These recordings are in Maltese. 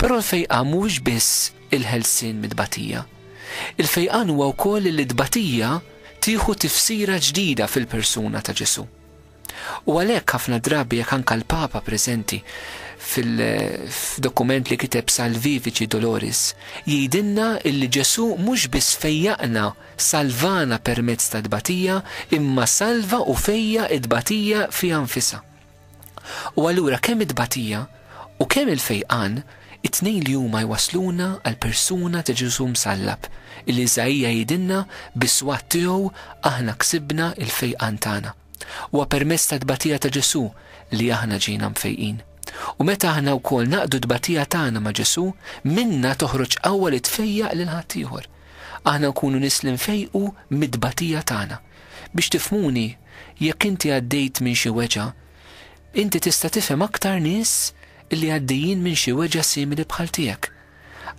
Però l-fejqan mhuwiex biss il-ħelsien mit-tbatija. Il-fejqan huwa wkoll li t-tbatija tieħu tifsira ġdida fil-persuna ta' Ġesù. U għalhekk ħafna drabi jekk anka l-Papa preżenti fil-dokument li kiteb Salvivici Doloris jgħidilna illi Ġesù mhux biss fejjaqna salvana permezz ta' tbatija imma salva u fejja t-tbatija fiha nfisha. U allura kemm it-tbatija u kemm il-fejqan, it-tnejn li huma jwassluna għall-persuna ta' Ġesù msallab, illi Iżaija jgħidilna bis-swat tiegħu aħna ksibna l-fejqan tagħna. Huwa permezz tat-tbatija ta' Ġesù li aħna ġejna mfejqin. U meta aħna wkoll naqdu t-tbatija tagħna ma' Ġesù, minna toħroġ qawwa li tfejjaq lil ħaddieħor. Aħna nkunu nies li nfejqu mit-tbatija tagħna. Biex tifhmuni, jekk inti għaddejt minn xi weġgħa, inti tista' tifhem aktar nies li għaddejjin minn xi weġgħa simili bħal tiegħek.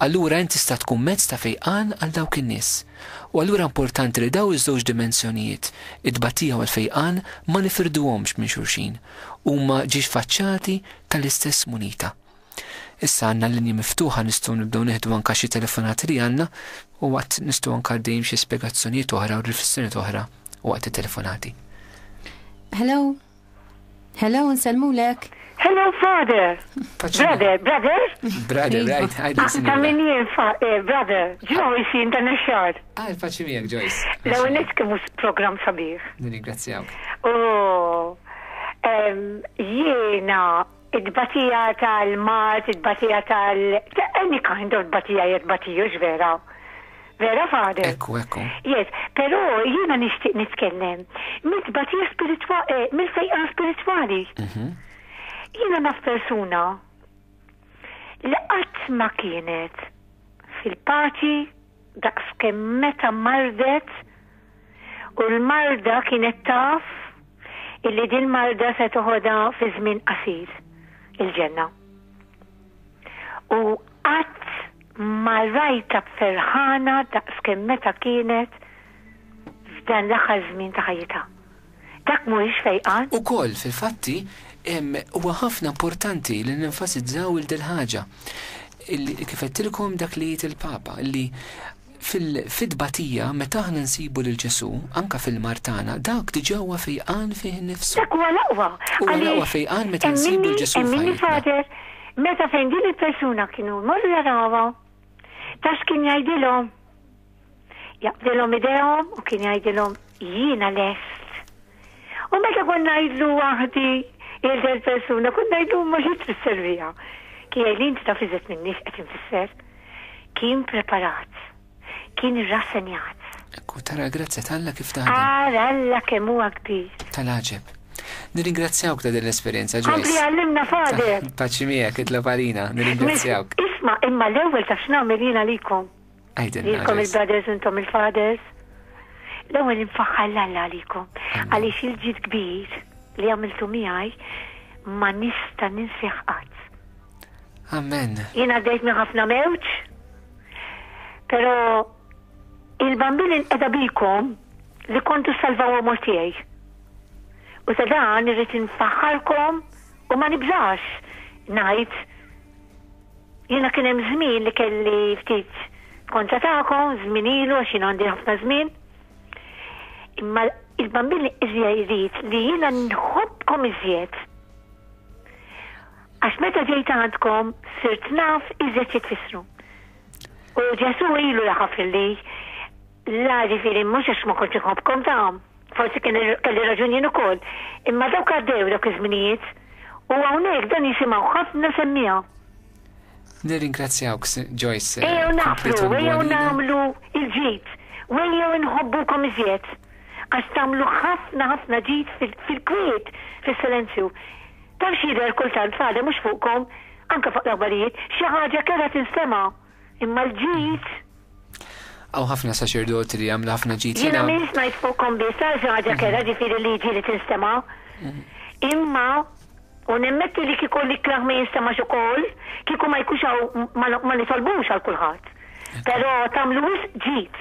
Allura int tista' tkun mezz ta' fejqan għal dawk in-nies. U allura importanti li dawn iż-żewġ dimensjonijiet, it-tbatija u l-fejqan, ma nifirduhomx minn xulxin. Huma ġiex faċċati tal-istess munita. Issa għandna l-linji miftuħa nistgħu nibdew nieħdu anka xi telefonati li għandna u waqt nistgħu anka għaddejjin b'xi spjegazzjonijiet oħra u riflessjonijiet oħra waqt it-telefonati. Hello? Hello, nsellmulek. Hello, father. Brother, brother? Brother, right, I do see. Ta' min jien, eh, brother, Joyce, jien dan il-xar. Ah, il-paċi miegħek, Joyce. Law nis kemmu program sabiħ. Nirringrazzjawk. Oh, jiena It-tbatija tal-mard, it-tbatija tal-, any kind of tbatija hija tbatija, hux vera? Vera, Father? Ekku, ekku. Yes, pero jiena nixtieq nitkellem mit-tbatija spiritwa-, eh, mill-fejqan spiritwali. Jiena naf persuna li qatt ma kienet fil-paċi, daqs kemm meta mardet u l-marda kienet taf illi din marda se toħodha fi żmien qasir il-ġenna. U qatt ma rajta ferħana daqs kemm meta kienet f'dan l-aħħar żmien ta' ħajjitha. Dak mhuwiex fejqan. Ukoll, fil-fatti, huwa ħafna importanti li nenfasizzaw il dil-ħaġa, li, kif għedtilkom, dak li jgħid il-Papa, li fil-fit-tbatija, meta aħna nsibu lil Ġesù, anke fil-mard tagħna, dak diġà huwa fejqan fih innifsu. Dak huwa l-aqwa. Huwa l-aqwa fejqan meta nsibu l-Ġesù f'ħajjitna. Hemm minni, hemm minni, Father, meta fejn din il-persuna kienu jmorru jarawha, taf x'kien jgħidilhom? Jaqbdilhom idejhom u kien jgħidilhom jiena lest. U meta kont ngħidlu waħdi il del persuna kont ngħidlu ma xi trid serviha. Kien jgħidli inti taf iżet minni x'qed infisser. Kien preparat. Kien irrassenjat. Ekku tara l-grazzja talla kif taħdem. Ara Alla kemm huwa kbir. Tal-għaġeb. Nirringrazzjawk ta' din l-esperjenza ġewwa. Kompli għallimna fader. Paċi miegħek itlob għalina, nirringrazzjawk. Isma' imma l-ewwel taf x'nagħmel jiena likom. Lilkom il-brothers intom il-fathers. L-ewwel infaħħar l-Alla għalikom għaliex il-ġid kbir li għamiltu miegħi ma nista' ninsih qatt. Amen. Jien għaddejt minn ħafna mewġ, però il-bambin inqeda bikom li kontu salvaw għamur tiegħi. U ta' dan irrid infaħħarkom u ma nibżax ngħid Jiena kien hemm żmien li kelli ftit kontra tagħkom, żmien ilu għax jiena għandi ħafna żmien. Imma il-bambin li iżja jrid li jiena nħobbkom iżjed. Għax meta ġejt għandkom sirt naf iżjed xi tfissru. U Ġesu ilu jafaf li la ġifieri mhux għax ma kontx iħobbkom tagħhom. Forsi kien kelli raġun jien ukoll. Imma dawk għaddew dawk iż-żminijiet u hawnhekk dan jisimgħu ħafna semmiha. Nirringrazzjawk, Joyce. Ejjew naħfru, ejjew nagħmlu il-ġid, u ejjew inħobbukom iżjed. Għax tagħmlu ħafna ħafna ġid fil-kwiet, fis-silenzju. Taf x'jidher kultant fada mhux fuqkom, anke fuq l-aħbarijiet, xi ħaġa kellha tinstema'. Imma l-ġid. Hawn ħafna saċerdoti li jagħmlu ħafna ġid. Jiena m'iniex ngħid fuqkom biss għal xi ħaġa kerha ġifieri liġi li tinstema'. Imma, u nemmetti li kieku l-ikrah ma jinstemax ukoll, kieku ma jkunx hawn ma nitolbux għal kulħadd. Però tagħmlu wisq ġid.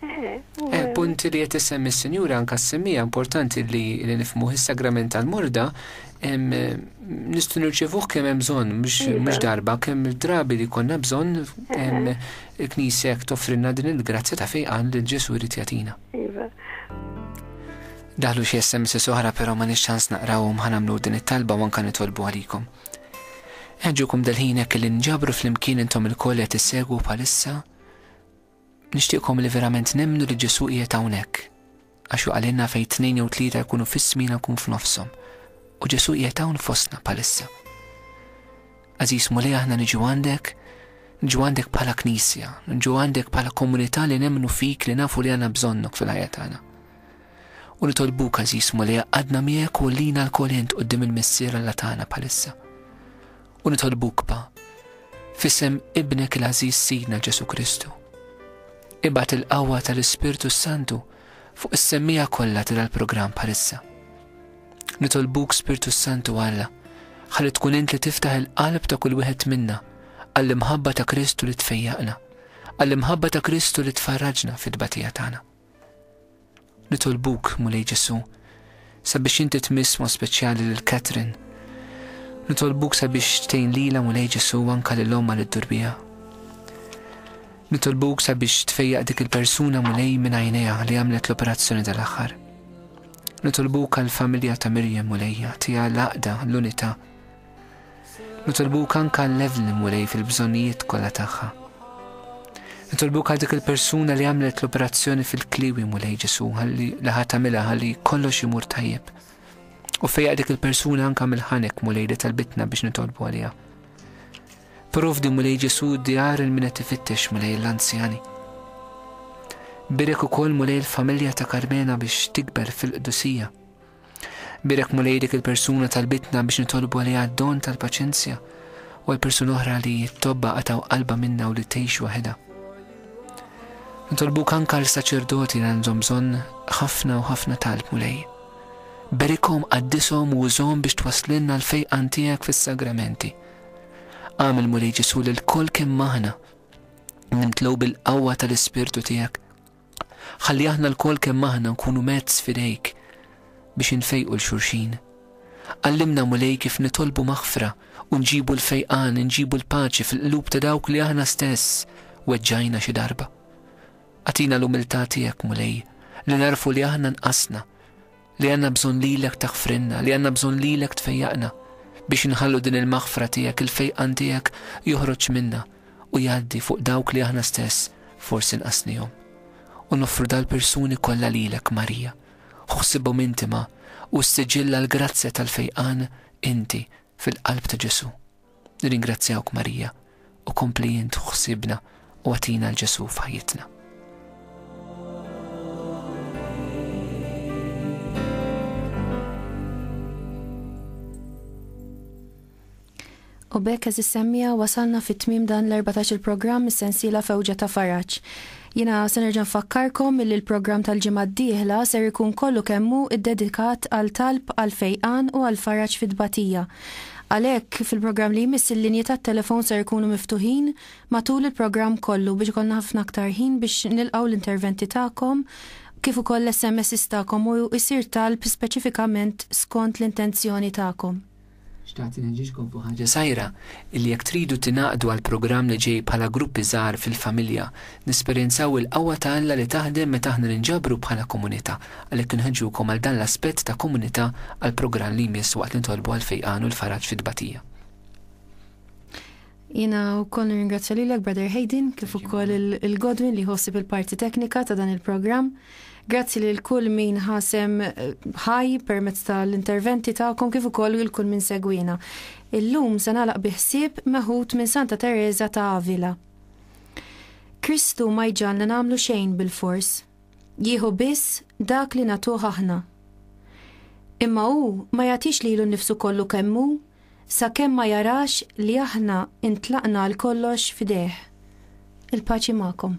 Il-punt li qed issemmi s-Sinjura anke ssemmieha importanti li li nifhmuh is-sagrament tal-morda nistgħu nirċevuh kemm hemm bżonn mhux darba kemm drabi li konna bżonn il-Knisja jekk toffrilna din il-grazzja ta' fejn qal li Ġesù jrid jagħtina. Iva. Daħlu xi SMS oħra però ma nix ċans naqrawhom ħanamlu din it-talba u anke nitolbu għalikom. Eġġukom dal-ħin hekk li nġabru flimkien intom il-koll qed issegwu bħalissa Nixtieqkom li verament nemmnu li Ġesù qiegħed hawnhekk, għax hu qalilna fejn tnejn jew tlieta jkunu f'ismi jiena nkun f'nofshom, u Ġesù qiegħed hawn fostna bħalissa. Għażiż Mulej aħna niġu għandek, niġu għandek bħala Knisja, niġu għandek bħala komunità li nemmnu fik li nafu li għandna bżonnok fil-ħajja tagħna. U nitolbuk għażiż Mulej għadna miegħek u lina l-kol int qudiem il-Missier Alla tagħna bħalissa. u nitolbuk pa, f'isem Ibnek il-għażiż Sidna Ġesù Kristu. Ibgħat il-qawwa tal-Ispirtu s-Santu fuq is-semmija kollha tira l-programm bħalissa. Nitolbuk Spirtu s-Santu Alla, ħalli tkun int li tiftaħ il-qalb ta' kull wieħed minna għall-imħabba ta' Kristu li tfejjaqna, għall-imħabba ta' Kristu li tfarraġna fit-tbatija tagħna. Nitolbuk, Mulej Ġesù, sabiex inti tmiss mod speċjali lil Katherine. Nitolbuk sabiex tgħin lilha, Mulej Ġesù, u anke lil ommha li ddur biha. Nitolbuk sabiex tfejjaq dik il-persuna, Mulej, minn għajnejha li għamlet l-operazzjoni tal-aħħar. Nitolbuk għall-familja ta' Miriam, Mulej, agħtiha l-għaqda, l-unità, Nitolbuk anka l-level li Mulej fil-bżonnijiet kollha tagħha. Nitolbuk għal dik il-persuna li għamlet l-operazzjoni fil-kliwi Mulej Ġesu ħalli li ħadd tagħmilha ħalli kollox imur tajjeb. U fejja dik il-persuna anka mill-ħanek Mulej li talbitna biex nitolbu għaliha. Provdi Mulej Ġesu d-djar il-min qed ifittex Mulej l-anzjani. Birek ukoll Mulej l-familja ta' Karmena biex tikber fil-qdusija. Bierek Mulej dik il-persuna talbitna biex nitolbu għaliha d-don tal-paċenzja u għal persuna oħra li t-tobba qatgħu qalbha minnha u li tgħix waħedha. Nitolbuk anke għal saċerdoti li għandhom bżonn ħafna u ħafna talb Mulej. Berikhom, qaddishom u użhom biex twasslilna l-fejqan tiegħek fis-sagramenti. Għamil Mulej Ġesu lil kol kemm aħna nimtlew bil-qawwa tal-Ispirtu tiegħek Ħalli aħna lkoll kemm aħna nkunu mezz f'idejk biex infejqu 'l xulxin. Għallimna, Mulej, kif nitolbu maħfra u nġibu l-fejqan, nġibu l-paċi fil-qlub ta' dawk li aħna stess weġġajna xi darba. Agħtina l-umiltà tiegħek, Mulej, li nagħrfu li aħna nqasna, li għandna bżonn lilek taħfrinna, li għandna bżonn lilek tfejjaqna biex inħallu din il-maħfra tiegħek, il-fejqan tiegħek joħroġ minna u jgħaddi fuq dawk li aħna stess forsi nqasnihom. U noffru dal-persuni kollha lilek Marija, ħuħsibhom intima u s-siġilla l-grazzja tal-fejqan inti fil-qalb ta' Ġesu. Nirringrazzjawk Marija u kompli int ħsiebna u agħtina 'l Ġesù f'ħajjitna. U bekk eżis semmija wasalna fit-tmiem dan l-14 il-programm is-sensiela fewġa ta' faraġ. Jiena se nerġa' nfakkarkom illi l-programm tal-ġimgħa d-dieħla ser ikun kollu kemm hu ddedikat għal talb għall-fejqan u għall-faraġ fit-tbatija. Għalhekk, fil-programm li jmiss il-linji tat-telefon ser ikunu miftuħin matul il-programm kollu biex ikollna ħafna aktar ħin biex nilqgħu l-interventi tagħkom kif ukoll l-SMSs tagħkom u jsir talb speċifikament skont l-intenzjoni tagħkom. Xtaqt inħeġġiġkom fuq ħaġa żgħira, illi jekk tridu tingħaqdu għall-programm li ġej bħala gruppi żgħar fil-familja, nesperjenzaw il-qawwa ta' Alla li taħdem meta aħna ninġabru bħala komunità, għalhekk inħeġġukom għal dan l-aspett ta' komunità għall-programm li jmiss waqt nitolbu għall-fejqan u l-faraġ fit-tbatija. Jina u koll nirringrazzja lilek Brother Hayden kif ukoll il-Godwin li ħossib il-parti teknika ta' dan il-programm. Grazzi lil kull min ħasem eh, ħaj permezz tal-interventi tagħkom kif ukoll lil kull min segwina. Illum se nagħlaq biħsieb meħud minn Santa Teresa ta' Avila. Kristu ma jġalna nagħmlu xejn bil-fors. Jieħu biss dak li natuħ aħna. Imma hu ma jagħtix lilu nnifsu kollu kemmu sakemm ma jarax li aħna ntlaqna għal kollox f'idejh. Il-paċi magħkom.